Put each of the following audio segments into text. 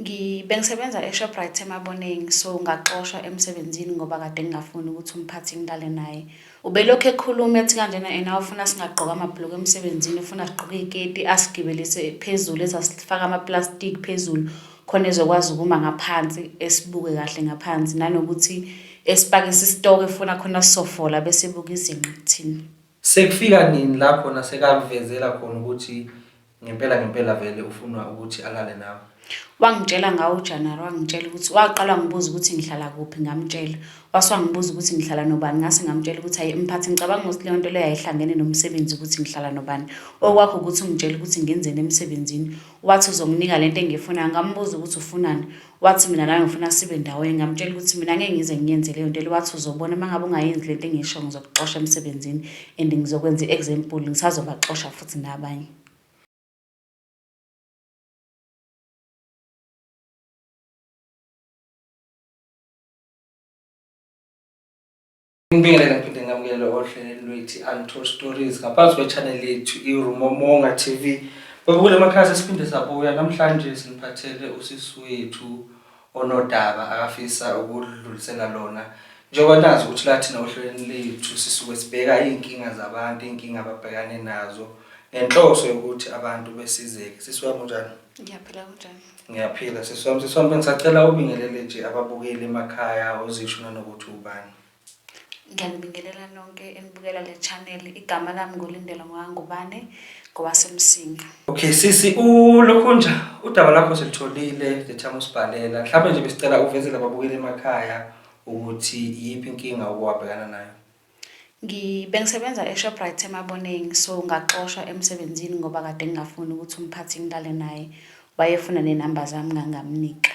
Ngi, bengisebenza eShoprite eMaboneng, so ngaxoshwa emsebenzini ngoba kade ngingafuni ukuthi umphathi ngilale naye. Ubelokhu ekhuluma ethi kanjena yena ufuna singagqoka amabhuluku emsebenzini, ufuna sigqoke iy'keti, asigibelise phezulu, ethi asifake amaplastiki phezulu khona ezokwazi ukuma ngaphansi, esibuke kahle ngaphansi, nanokuthi esipakise isitoko efuna khona sisofola bese ebuka izinqa kuthina. Sekufika nini la khona sekakuvezela khona ukuthi Ngempela ngempela vele ufunwa ukuthi alale nawe. Wangitshela ngawo uJanuary wangitshela ukuthi waqala ngibuza ukuthi ngihlala kuphi ngamtshela. Wase wangibuza ukuthi ngihlala nobani ngase ngamtshela ukuthi hayi mphathi ngicabanga ukuthi leyo nto leyo ayihlangene nomsebenzi ukuthi ngihlala nobani. Okwakho ukuthi ungitshele ukuthi ngenzeni emsebenzini. Wathi uzonginika lento engiyifunayo ngambuza ukuthi ufunani. Wathi mina nami ngifuna sibe ndawonye ngamtshela ukuthi mina ngeke ngize ngiyenze leyo nto le wathi uzobona uma ngabe ungayenzi le nto engisho ngizokuxosha emsebenzini and ngizokwenza i-example ngisazobaxosha futhi nabanye Ngibingelele ngiphinde ngamukele ohlelweni lwethu Untold Stories ngaphansi kwechannel yethu iRumomonga TV. Babukele amakhasi siphinde sabuya namhlanje siniphathele usisi wethu onodaba akafisa ukudlulisela lona. Njengoba nazi ukuthi lathina ohlelweni lethu sisuke sibheka izinkinga zabantu, izinkinga ababhekane nazo ngenhloso yokuthi abantu besizeke. Sisiwa kunjani? Ngiyaphila kunjani? Ngiyaphila sisi wami, sisi wami ngisacela ubingelele nje ababukeli emakhaya uzisho nanokuthi ubani. Ngiyanibingelela nonke enibukela le channel. Igama lami nguLindelo Ngwangubane ngowaseMsinga. Okay sisi ulokhunja udaba lakho silitholile the time usibhalela. Mhlawumbe nje besicela uvezele ababukeli emakhaya ukuthi iyiphi inkinga okwabhekana nayo. Ngi, bengisebenza eShoprite eMaboneng, so ngaxoshwa emsebenzini ngoba kade ngingafuni ukuthi umphathi ngilale naye. Wayefuna nenamba zami ngangamnika.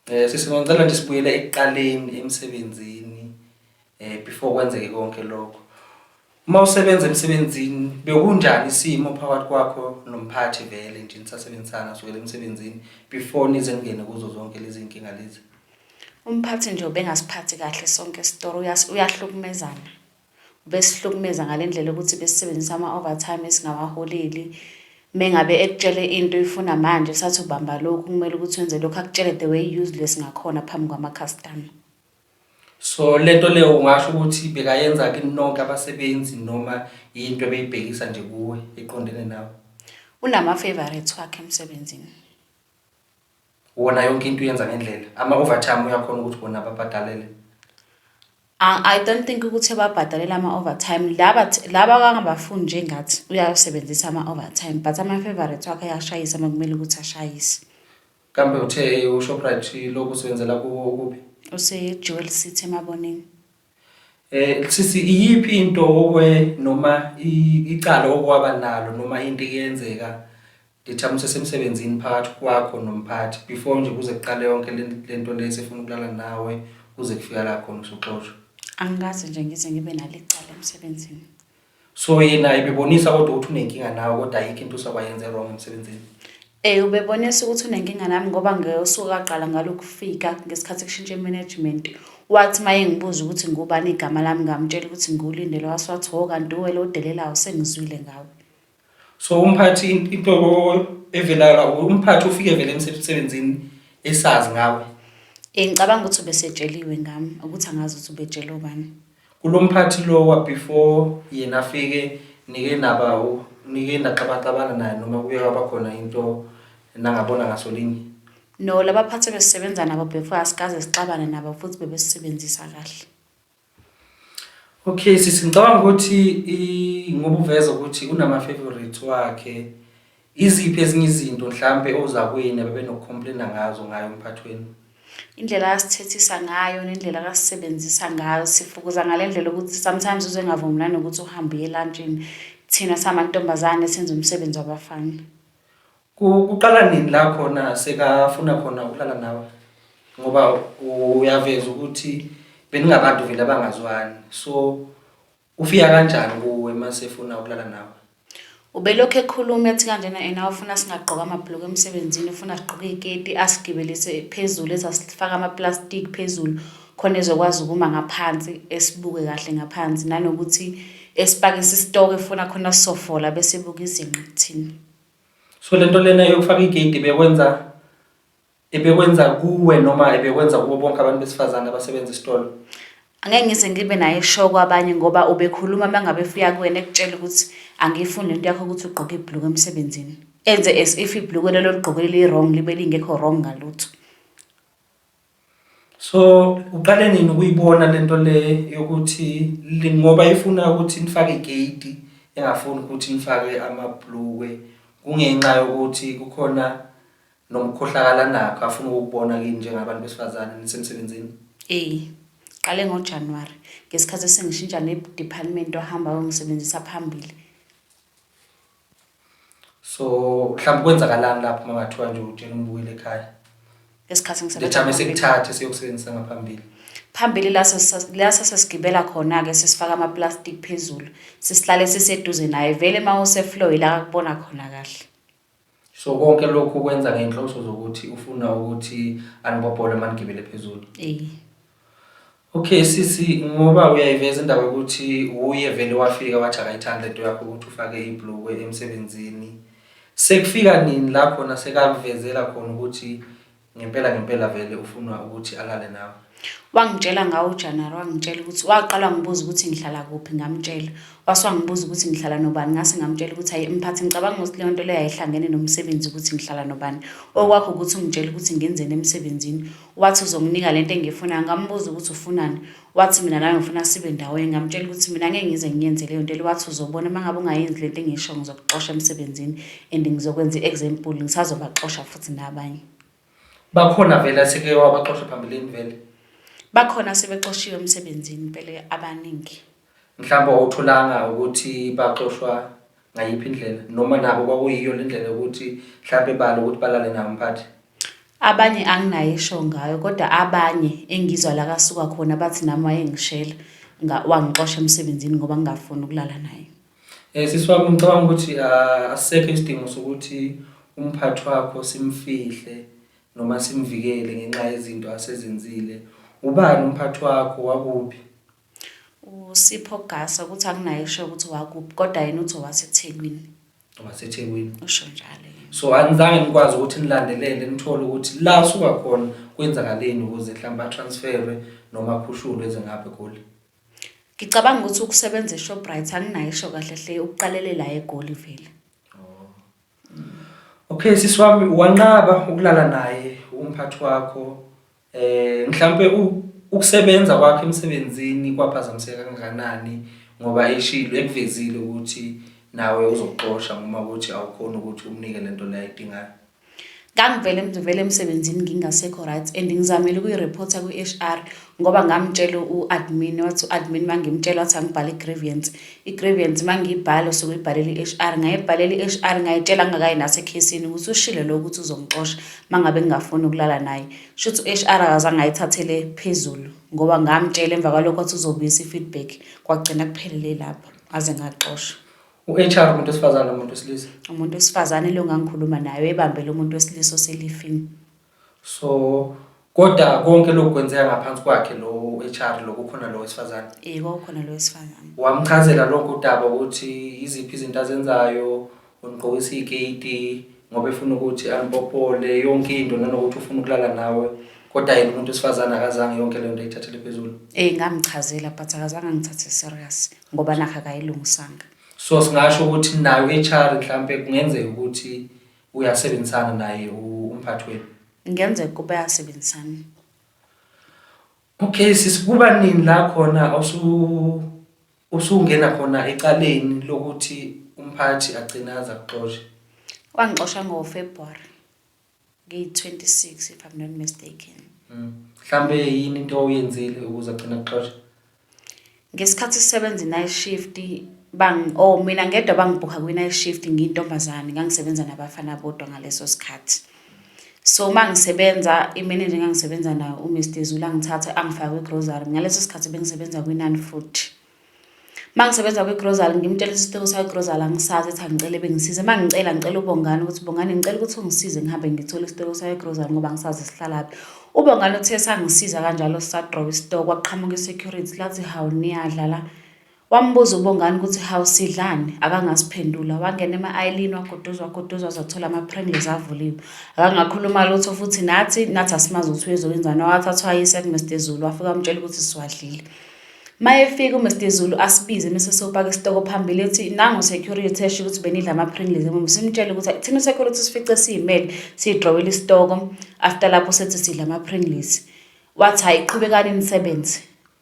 Eh sisi ngicela nje sibuyele ekuqaleni emsebenzini eh before kwenzeke konke lokho. Uma usebenza emsebenzini bekunjani isimo phakathi kwakho nomphathi vele nje nisasebenzisana sukela emsebenzini before nize ningene kuzo zonke lezi nkinga lezi? Umphathi nje ubengasiphathi kahle sonke isitoro uyahlukumezana ubesihlukumeza ngale ndlela yokuthi besisebenzisa ama-overtime esingawaholeli mengabe ekutshele into uyifuna manje sathi ubamba lokhu kumele ukuthi wenze lokhu akutshele the way useless ngakhona phambi kwamakhastama so lento leyo ungasho ukuthi bekayenza kini nonke abasebenzi noma yinto ebeyibhekisa nje kuwe eqondene nawe unama-favorites wakhe emsebenzini wona yonke into uyenza ngendlela ama-overtime uyakhona ukuthi bona babhadalele I I don't think ukuthi babhadalela ama-overtime laba th- laba kangabafundi njengathi uyawasebenzisa ama-overtime but ama-favorite wakhe ayashayisa uma kumele ukuthi ashayise kambe uthe ushoprite lokhu usebenzela kuwo ukuphi usejewel city emabonini Eh sisi iyiphi into okwe noma icala okwaba nalo noma into eyenzeka ngithama usesemsebenzini phakathi kwakho nomphathi before nje kuze kuqale yonke lento le sifuna ukulala nawe kuze kufika la khona usuxoshwa. Angikaze nje ngize ngibe nalicala emsebenzini. so yena ibebonisa kodwa ukuthi unenkinga nawe kodwa ayikho into usakwayenze wrong emsebenzini Eh ubebonisa ukuthi unenkinga nami ngoba ngeyosuku kaqala ngalokufika ngesikhathi kushintshe management wathi maye ngibuza ukuthi ngubani igama lami ngamtshela ukuthi ngulindele waswathi ho kanti uwe lo delelayo sengizwile ngawe so umphathi into evelala umphathi ufike vele emsebenzini esazi ngawe eh ngicabanga ukuthi ubesetsheliwe ngami ukuthi angazi ukuthi ubetshela ubani Kulomphathi lo wa before yena afike nike naba nike naxabaxabana naye noma kuye kwaba khona into nangabona ngaso linye? No labaphathi ebesisebenza nabo before asikaze sixabane nabo futhi bebesisebenzisa kahle. Okay sisi ngicabanga ukuthi ngoba uveza ukuthi unama favorites wakhe Iziphi ezinye izinto mhlampe ozakwenu abebenokukhomplenna ngazo ngayo umphathi wenu? Indlela akasithethisa ngayo nendlela akasisebenzisa ngayo sifukuza ngale ndlela ukuthi sometimes uze ngavumelani nokuthi uhambe uye elantshini thina samantombazane senza umsebenzi wabafana. Ku- Kuqala nini la khona sekafuna khona ukulala nawe? Ngoba uyaveza ukuthi beningabantu vele abangazwani. So Ufika kanjani kuwe mase efuna ukulala nawe? Ubelokhu ekhuluma ethi kanjena ena ufuna singagqoka amabhuluku emsebenzini ufuna sigqoke iziketi asigibelise phezulu ezasifaka amaplastic phezulu khona ezokwazi ukuma ngaphansi esibuke kahle ngaphansi nanokuthi esipakise isitoko efuna khona sisofola bese buka izinqa kuthina. So lento lena yokufaka igate bekwenza Ebekwenza kuwe noma ebekwenza kubo bonke abantu besifazane abasebenza esitolo? Angeke ngize ngibe naye show kwabanye ngoba ubekhuluma mangabe efika kuwena ekutshela ukuthi angiyifuni lento yakho ukuthi ugqoke ibhluku emsebenzini. Enze as if ibhluku lelo ligqokele li-wrong libe lingekho wrong ngalutho. So uqale nini ukuyibona lento le yokuthi li- ngoba ifuna ukuthi nifake igate engafuni ukuthi nifake amabhulukwe kungenxa yokuthi kukhona Nomkhohlakala nakho afuna ukukubona kini njengabantu besifazane nisemsebenzini. Ey, qale ngoJanuwari, ngesikhathi esengishintsha ne-department wahamba wayongisebenzisa phambili. So mhlawumbe kwenzakalani lapho uma ngathiwa nje utshela umbuyele ekhaya. Ngesikhathi ngisebenza Lethame phambili. sikuthathe siyokusebenzisa ngaphambili. Phambili la sesa- la sesesigibela khona-ke sesifaka amaplastic phezulu, sisihlale siseduze naye. Vele uma useflow ila akubona khona kahle. so konke lokhu ukwenza ngenhloso zokuthi ufuna ukuthi anibobhole manigibele phezulu eh okay sisi ngoba uyayiveza indaba ukuthi uye vele wafika wathi akayithanda into yakho ukuthi ufake iblue emsebenzini sekufika nini lapho nasekakuvezela khona ukuthi Ngempela ngempela vele ufunwa ukuthi alale nawe. Wangitshela ngawo uJanuary wangitshela ukuthi waqala ngibuza ukuthi ngihlala kuphi ngamtshela. Wase wangibuza ukuthi ngihlala nobani ngase ngamtshela ukuthi hayi mphathi ngicabanga ukuthi leyo nto leyo ayihlangene nomsebenzi ukuthi ngihlala nobani. Okwakho ukuthi ungitshela ukuthi ngenzeni emsebenzini. Wathi uzonginika lento engiyifunayo ngambuza ukuthi ufunani. Wathi mina nawe ngifuna sibe ndawonye, ngamtshela ukuthi mina ngeke ngize ngiyenze leyo nto le. Wathi uzobona uma ngabe ungayenzi le nto engisho ngizokuxosha emsebenzini and ngizokwenza i-example, ngisazobaxosha futhi nabanye. Bakhona vele aseke wabaxosha phambilini vele? Bakhona asebexoshiwe emsebenzini impela abaningi. Mhlawumbe awutholanga ukuthi baxoshwa ngayiphi indlela noma nabo kwakuyiyo le ndlela yokuthi mhlawumpe balo ukuthi balale nawo mphathi abanye anginayo isho ngayo kodwa abanye engizwa la kasuka khona bathi nami wayengishela wangixosha emsebenzini ngoba ngingafuni ukulala naye um sisi wami ngicabanga ukuthi ah, asisekho isidingo sokuthi umphathi wakho simfihle noma simvikele ngenxa yezinto asezenzile ubani umphathi wakho wakuphi USipho Gasa ukuthi akunaye eshoyo ukuthi wakuphi kodwa yena uthi owaseThekwini. waseThekwini Usho njalo yena. so anizange nikwazi ukuthi nilandelele nithole ukuthi la asuka khona kwenzakaleni ukuze mhlawumbe atransferwe noma akhushulwe eze ngapha egoli Ngicabanga ukuthi ukusebenza eShoprite anginayo isho kahle hle ukuqalele la eGoli vele. okay sisi wami wanqaba ukulala naye umphathi wakho Eh mhlambe ukusebenza kwakhe emsebenzini kwaphazamiseka kangakanani ngoba eshilo ekuvezile ukuthi nawe uzoxosha noma ukuthi awukhona ukuthi umnike lento la idingayo ngangivele ngivele emsebenzini ngingasekho right and ngizamile ukuyireporta kwi-HR ngoba ngamtshela u-admin wathi u-admin mangimtshela wathi angibhale i-grievance I-grievance uma ngiyibhala usuke uyibhalela i-HR, ngayibhalela i-HR ngayitshela ngingakayi nasekhesini ukuthi ushilo lo ukuthi uzongixosha uma ngabe ngingafuni ukulala naye. Shuthi u-HR akazange ayithathele phezulu ngoba ngamtshela emva kwalokho athi uzobuyisa i-feedback, kwagcina kuphelele lapho ngaze ngaxoshwa. U-HR umuntu wesifazane umuntu wesilisa? Umuntu wesifazane lo ngangikhuluma naye, ebambele umuntu wesilisa oselifini. So kodwa konke lokhu kwenzeka ngaphansi kwakhe lo HR lo kukhona lo wesifazane. Eh kwakukhona lo wesifazane. Wamchazela lonke udaba ukuthi iziphi izinto azenzayo, unigqokisa igate ngoba efuna ukuthi anipopole yonke into nanokuthi ufuna ukulala nawe. Kodwa yena umuntu wesifazane akazange yonke lento ayithathele phezulu. Eh ngamchazela but akazange angithathe serious ngoba nakho akayilungisanga. So singasho ukuthi nayo HR mhlambe kungenzeka ukuthi Uyasebenzisana naye umphathi wenu? Ngenzeka ukuba yasebenzisana. Okay sisi kuba nini la khona osu usungena khona ecaleni lokuthi umphathi agcine aza kuxosha? Wangixosha ngoFebruary ngiyi-26 if I'm not mistaken. Mm. Mhlambe yini into oyenzile ukuze agcine akuxosha? Ngesikhathi sisebenza i-night shift or mina ngedwa bangibhukha kwi-night shift ngiyintombazane ngangisebenza nabafana bodwa ngaleso sikhathi. So uma ngisebenza imenenja engangisebenza nayo uMr Zulu angithathe angifake kwi-grocery, ngaleso sikhathi bengisebenza kwi-Naan Fruit. Uma ngisebenza kwi-grocery ngimtshela ukuthi isiciko sakwi-grocery angisazi ethi angicele bengisize. Uma ngicela ngicela uBongani ukuthi Bongani ngicela ukuthi ungisize ngihambe ngithole isiciko sakwi-grocery ngoba angisazi sihlala kuphi. UBongani uthe sangisiza kanjalo sisadrawa isitokwe kwaqhamuka i-security lathi hawu niyadlala. Wambuza uBongani ukuthi hawu sidlani akangasiphendula wangena ema-aylini wagoduza wagoduza waze wathola ama-pringles avuliwe. Akangakhuluma lutho futhi nathi nathi asimazi ukuthi uyezokwenzani wathathwa wayisa kuMr Zulu wafike wamtshela ukuthi siwadlile. Mayefika uMr Zulu asibize mese sopaka isitoko phambili ethi nangu security esho ukuthi benidla ama Pringles ngoba simtshela ukuthi thina security sifice siyimele sidrawela isitoko after lapho sethi sidla ama Pringles wathi hayi qhubekani nisebenze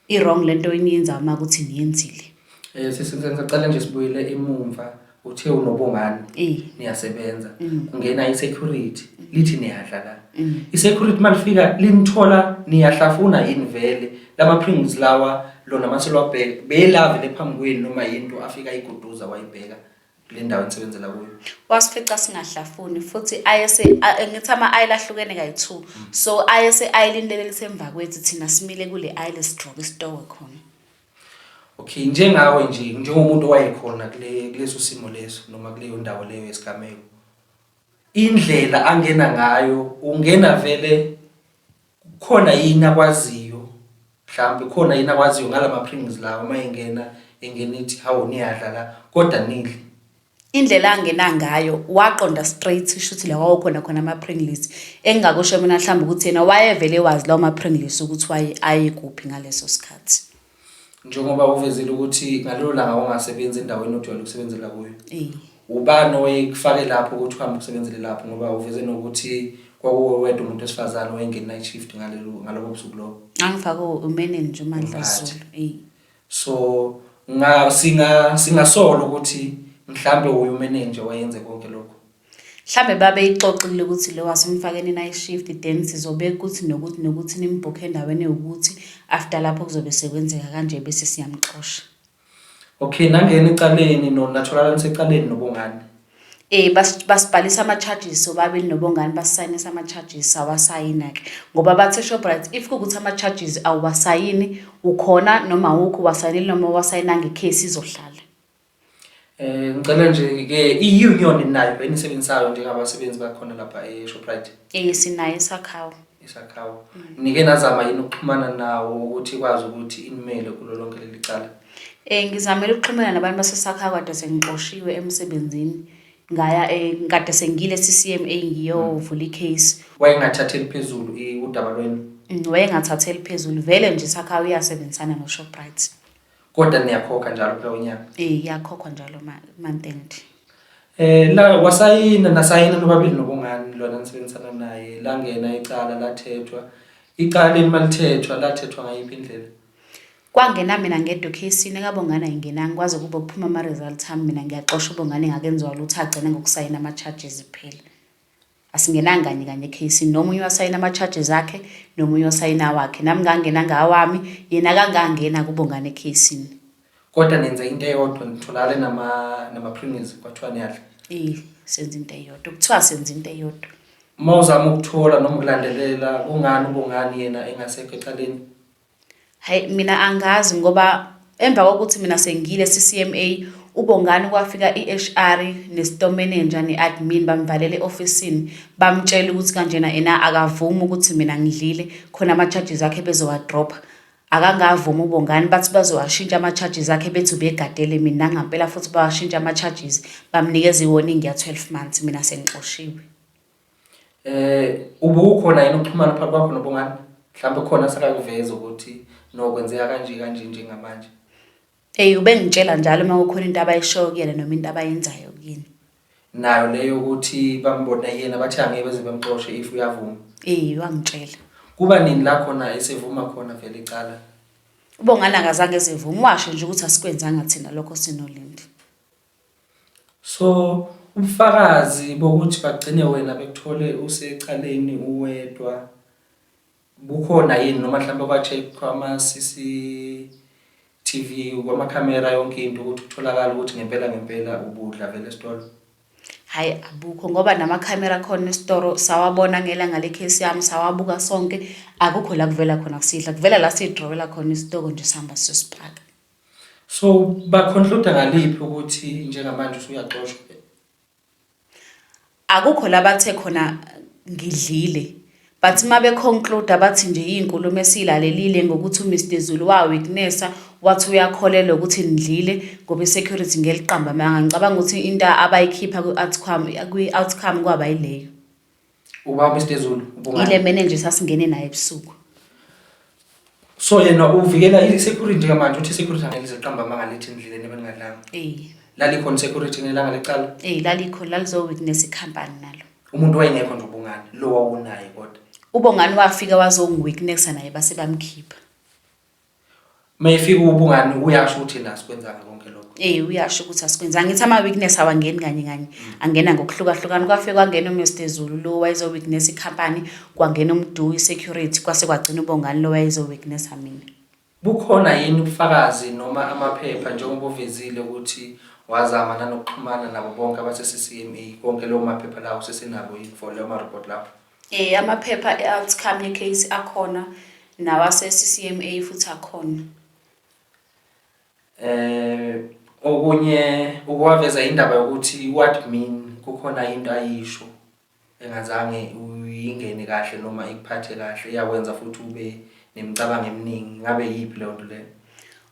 i wrong lento eniyenza uma ukuthi niyenzile eh sisi ngisacela nje sibuyele emumva uthe unobongani Eh. niyasebenza Mm. kungena i-security lithi niyadla la Mm. i-security uma lifika linithola niyahlafuna yini vele lama-prings lawa lona mase lwabheka beyelavele phambi kwenu noma yinto afika ayiguduza wayibheka kule ndawo enisebenzela kuyo wasifica singahlafuni futhi ayese a- eh, ngithi ama ayile ahlukene kayi-two so ayese ayilindele lisemva kwethu thina simile kule ayile sigqoke isitowe khona Okay, njengawe nje njengomuntu owayekhona kule kuleso simo leso noma kuleyo ndawo leyo yesigameko. Indlela angena ngayo ungena vele khona yini akwaziyo mhlawumbe khona yini akwaziyo ngalama prings lawo uma engena engena ithi hawu niyadla la kodwa nidle. Indlela angena ngayo waqonda straight shuthi la kwakukhona khona ama-Pringles. Engingakusho mina mhlawumbe ukuthi yena wayevele wazi lawo ma-Pringles ukuthi waye aye kuphi ngaleso sikhathi. Njengoba uvezile ukuthi ngalelo langa ungasebenzi endaweni ojwayele ukusebenzela kuyo. Eh. Ubani oyekufake lapho ukuthi uhambe usebenzele lapho ngoba uveze nokuthi kwakuwe wedwa umuntu wesifazane oyengena i-shift ngalelo ngalobo busuku lobo. Angifake umeneni nje uMandla Umphathi. Zulu. Eh. So nga singa singasola ukuthi mhlambe uyu manager wayenze konke lokho. Mhlambe babe ixoxile ukuthi lo wasimfakeni night shift then sizobeka ukuthi nokuthi nokuthi nimbhukhe endaweni yokuthi after lapho kuzobe sekwenzeka kanje bese siyamxosha. Okay nangena ecaleni no natholakala nisecaleni nobongani. Eh basibhalisa ama charges sobabili nobongani basisayinisa ama charges awasayina ke ngoba bathe Shoprite if kukuthi ama charges awasayini ukhona noma awukho wasayinile noma wasayinanga icase izohlala. Eh ngicela nje ke i union nayo enisebenzisayo njengabasebenzi bakhona lapha e Shoprite. Eh sinayo sakhawo. isakhawu nike nazama yini ukuxhumana nawo ukuthi ikwazi ukuthi inimele kulo lonke leli cala um ngizamele ukuxhumana nabantu basesakhawu kade sengixoshiwe emsebenzini ngaya eh, kade sengile CCM engiyovula icase wayengathatheli phezulu udaba lwenu mm, wayengathatheli phezulu vele nje sakhawu uyasebenzisana noShoprite Kodwa niyakhokha njalo kulowo nyaka. Eh iyakhokhwa njalo ma month end. Eh la wasayina nasayina nobabili nobungani lona nisebenzisana naye langena icala lathethwa. Icala leli malithethwa lathethwa ngayiphi indlela? Kwangena mina ngedwa ekhesini ekabongana ingena ngikwazi ukuba kuphuma ama results ami mina ngiyaxosha ubongane ngakenziwa lutho agcine ngokusayina ama charges kuphela. Asingenanga kanye kanye case nomunye wasayina ama charges akhe nomunye wasayina wakhe nami ngangena ngawami yena kangangena kubongane case kodwa nenza into eyodwa nitholakale nama nama premiums kwathiwa niyadla eh senza into eyodwa kuthiwa senza into eyodwa uma uzama ukuthola noma ukulandelela kungani ubongani yena engasekho ecaleni Hayi mina angazi ngoba emva kokuthi mina sengile CCMA uBongani kwafika iHR neStore Manager neAdmin bamvalela eofisini bamtshela ukuthi kanjena ena akavumi ukuthi mina ngidlile khona ama charges akhe bezowa dropper akangavumi uBongani bathi bazowashintsha ama charges akhe bethi ubegadele mina ngampela futhi bawashintsha ama charges bamnikeza iwarning ya 12 months mina sengixoshiwe. Eh ubukhona yini ukuxhumana phakathi kwakho nobungani? Mhlawumbe khona sakakuveza ukuthi nokwenzeka kanje kanje njengamanje. Ey ubengitshela njalo uma kukhona into abayishoyo kuyena noma into abayenzayo kuyini. Nayo leyo ukuthi bambona yena bathi angeke beze bemxoshe if uyavuma. Ey wangitshela. Kuba nini la khona esevuma khona vele icala? Ubongani akazange ezivuma washo nje ukuthi asikwenzanga thina lokho sinolindi. So ubufakazi bokuthi bagcine wena bekuthole usecaleni uwedwa bukhona yini noma mhlawumbe kwa-check kwama-CCTV kwamakhamera yonke into ukuthi kutholakala ukuthi ngempela ngempela ubudla vele esitolo? Hhayi abukho ngoba namakhamera akhona esitoro sawabona ngelanga lekhesi yami sawabuka sonke akukho la kuvela khona kusidla kuvela la sidrowela khona isitoko nje sihamba siyosipaka. So ba conclude ngaliphi ukuthi njengamanje usuyaxoshwa? Akukho labathe khona ngidlile but uma beconclude abathi nje iy'nkulumo esiyilalelile ngokuthi uMr Zulu waweaknessa wathi uyakholelwa ukuthi nidlile ngoba i-security ngeliqamba amanga ngicabanga ukuthi into abayikhipha kwi-outcome kwi-outcome kwaba yileyo uba Mr Zulu ubungani ile manager sasingene naye ebusuku so yena uvikela i security kamanje uthi security angelize qamba amanga lethi endleleni ebeningadlanga eh lali khona security ngelanga lecala eh lali khona lalizo witness company nalo umuntu wayengekho nje ubungani lo wawunaye kodwa ubongani wafika wazongiwitnessa naye base bamkhipha mayifika ubungani uyasho ukuthi la sikwenzanga konke lokho eh uyasho ukuthi asikwenzanga ngithi ama weakness awangeni kanye kanye mm. angena ngokuhlukahlukana kwafike kwangena uMr Zulu lo wayezo weakness icompany kwangena umdu security kwase kwagcina ubongani lo wayezo weakness amina bukhona yini ubufakazi noma amaphepha njengoba uvezile ukuthi wazama nanokuxhumana nabo bonke abase CCMA konke lo maphepha lawo sesinabo yini for lo ma report lapho Eh amaphepha e-outcome ye-case akhona nawase-CCMA futhi akhona. Eh okunye ukuwaveza indaba yokuthi uadmin kukhona into ayisho engazange uyingene kahle noma ikuphathe kahle yakwenza futhi ube nemicabango eminingi ngabe yiphi leyo nto leyo.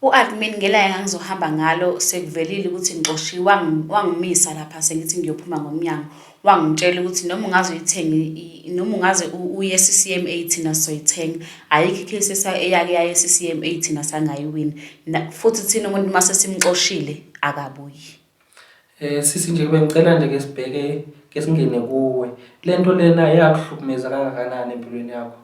U-admin ngelanga engangizohamba ngalo sekuvelile ukuthi ngixoshiwe wangi- wangimisa lapha sengithi ngiyophuma ngomnyango wangitshela ukuthi noma ungaze uyithenge i- noma ungaze u- uye e-ccma thina sizoyithenga ayikho ikhesi esa- eyake yaye e-ccma thina sangayiwini Na- futhi thina umuntu uma sesimxoshile akabuyi Eh sisi nje bengicela nje ke sibheke ke singene kuwe. Lento lena iyakuhlukumeza kangakanani empilweni yakho?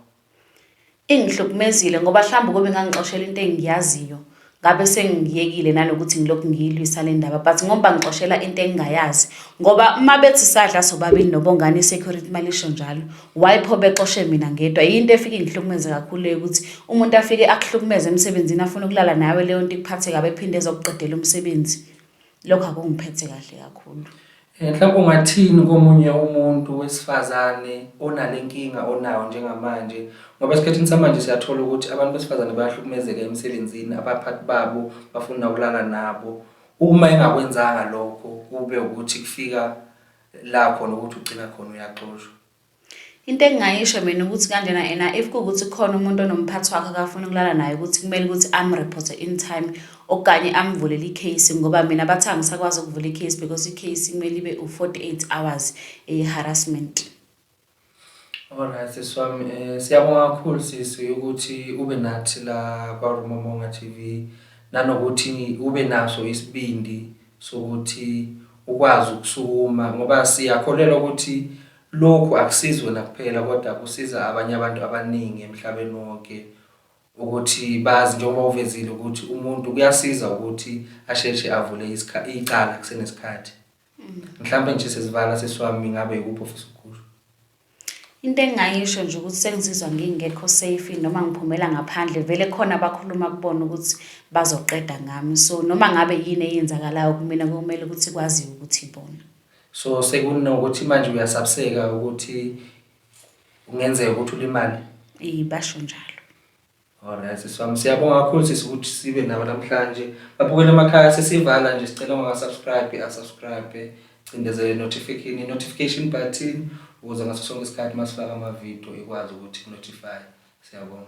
Ingihlukumezile ngoba hlambe ukube ngangixoshela into engiyaziyo ngabe sengiyekile nanokuthi ngilokhu ngiyilwisa le ndaba but ngoba ngixoshela into engingayazi ngoba uma bethi sadla sobabili nobongane i-security malisho njalo why pho bexoshe mina ngedwa yinto efike ngihlukumeze kakhulu leyo ukuthi umuntu afike akuhlukumeze emsebenzini afune ukulala nawe leyo nto ikuphathe kabi ephinde ezokuqedela umsebenzi lokho akungiphethe kahle kakhulu Eh, mhlawumbe ungathini komunye umuntu wesifazane onale nkinga onayo njengamanje ngoba esikhathini samanje siyathola ukuthi abantu besifazane bayahlukumezeka emsebenzini abaphathi babo bafuna ukulala nabo uma engakwenzanga lokho kube ukuthi kufika la khona ukuthi ugcina khona uyaxoshwa Into engingayisho mina ukuthi kanjena ena if kuwukuthi khona umuntu onomphathi wakhe akafuna ukulala naye ukuthi kumele ukuthi amreporte in time okanye amvulele i-case ngoba mina bathi angisakwazi ukuvula i-case because i-case kumele ibe u-48 hours eyi-harassment Alright sisi wami eh siyabonga kakhulu sisi ukuthi ube nathi la kwa Rumomonga TV nanokuthi ube naso isibindi sokuthi ukwazi ukusukuma ngoba siyakholelwa ukuthi Lokhu akusizi wena kuphela kodwa kusiza abanye abantu abaningi emhlabeni wonke ukuthi bazi njengoba uvezile ukuthi umuntu kuyasiza ukuthi asheshe avule icala kusenesikhathi. Mm. Mhlawumbe nje sesivala sesiwami ngabe yikuphi ofisa ukukusho. Into engingayisho nje ukuthi sengizizwa ngingekho safe noma ngiphumela ngaphandle vele khona abakhuluma kubona ukuthi bazoqeda ngami. So noma ngabe yini eyenzakalayo kumina kumele ukuthi kwaziwe ukuthi ibona. So sekunokuthi manje uyasabseka ukuthi kungenzeka ukuthi ulimale? Eh basho njalo. Alright sisi wami siyabonga kakhulu sisi ukuthi sibe nawe namhlanje. Babukele emakhaya sesivala nje sicela ungasubscribe asubscribe cindezele notification notification button ukuze ngaso sonke isikhathi masifaka ama video ikwazi ukuthi notify. Siyabonga.